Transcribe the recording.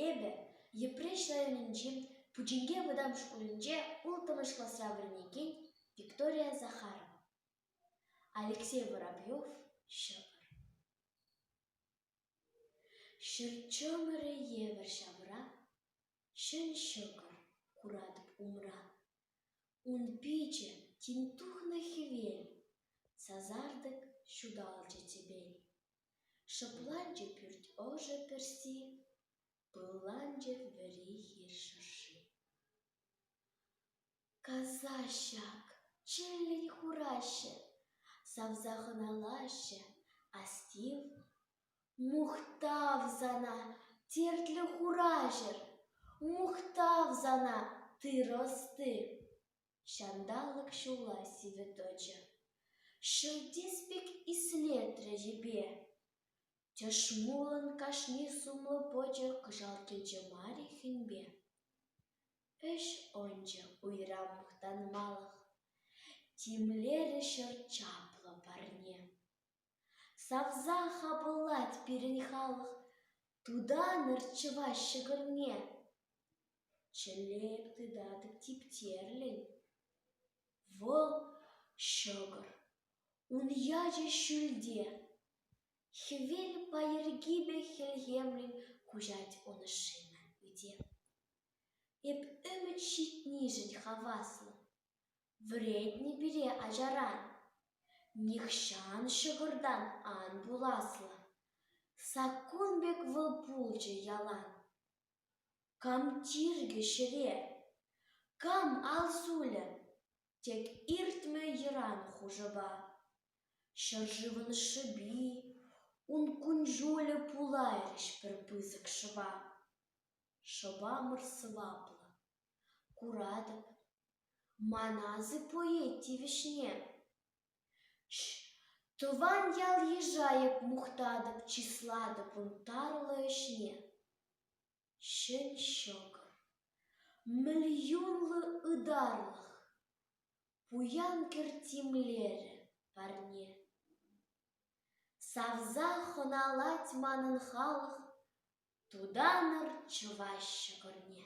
Эпӗ Йӗпреҫ районӗнчи Пучинке вӑтам шкулӗнче улттӑмӗш класра вӗренекен Виктория Захарова, Алексей Воробьев ҫӑкӑр. Ҫӗр чӑмӑрӗ евӗр ҫавра, ҫӗн ҫӑкӑр куратӑп умра. Ун пичӗ тин тухнӑ хӗвел, сасартӑк ҫуталчӗ тӗпел. Шӑпланчӗ пӳрт ӑшӑ пӗрси, пылланчӗ вӗри хир шӑрши. Каса ҫак, чӗллӗн хураҫҫӗ, савса хӑналаҫҫӗ астив. Мухтав сана, тертлӗ хураҫӑр, мухтав сана, тыр ӑсти! Ҫанталӑк ҫула сивӗ тӑчӗ. Шелтес пек ислетрӗ йӗпе. Тӗшмулӑн кашни сумлӑ пӑчӑ кӑшал кӗчӗ мар-и хӗнпе. Ӗҫ ӑнчӗ уйра мухтанмалӑх, Тимлерӗ ҫӗр чаплӑ парне. Савса-ха пулать пирӗн халӑх тутанӑр чӑваш ҫӗкӗрне. Чӗллеп тытатӑп типтерлӗн вӑл ҫӑкӑр, ун ячӗ ҫӳлте. Хӗвел пайӑркипе хӗлхемлӗн куҫать ун ӑшшине ӳте. Эп ӗмӗт ҫитнишӗн хаваслӑ. Вӗретнӗ пире ачаран, нихҫан ҫӑкӑртан ан пуласлӑ. Саккун пек вӑл пулчӗ ялан. Кам тиркӗ ҫӗре, кам ал сулӗ, тек иртмӗ йӑран хушӑпа. Ҫӗршывӑн шӑпи, ун кун-ҫулӗ пулайрӗҫ пӗр пысӑк шӑпа. Шӑпамӑр сӑваплӑ, куратӑп, Ман асӑп ует тивӗҫне. Тӑван ял-йыша-ек мухтатӑп, чыслатӑп ун тарлӑ ӗҫне. Ҫӗн ҫӑкӑр, миллионлӑ ытарлӑх, пуян кӗрт тимлерӗ парне. Савса хӑналать манӑн халӑх, тутанӑр чӑваш ҫӑкӑрне.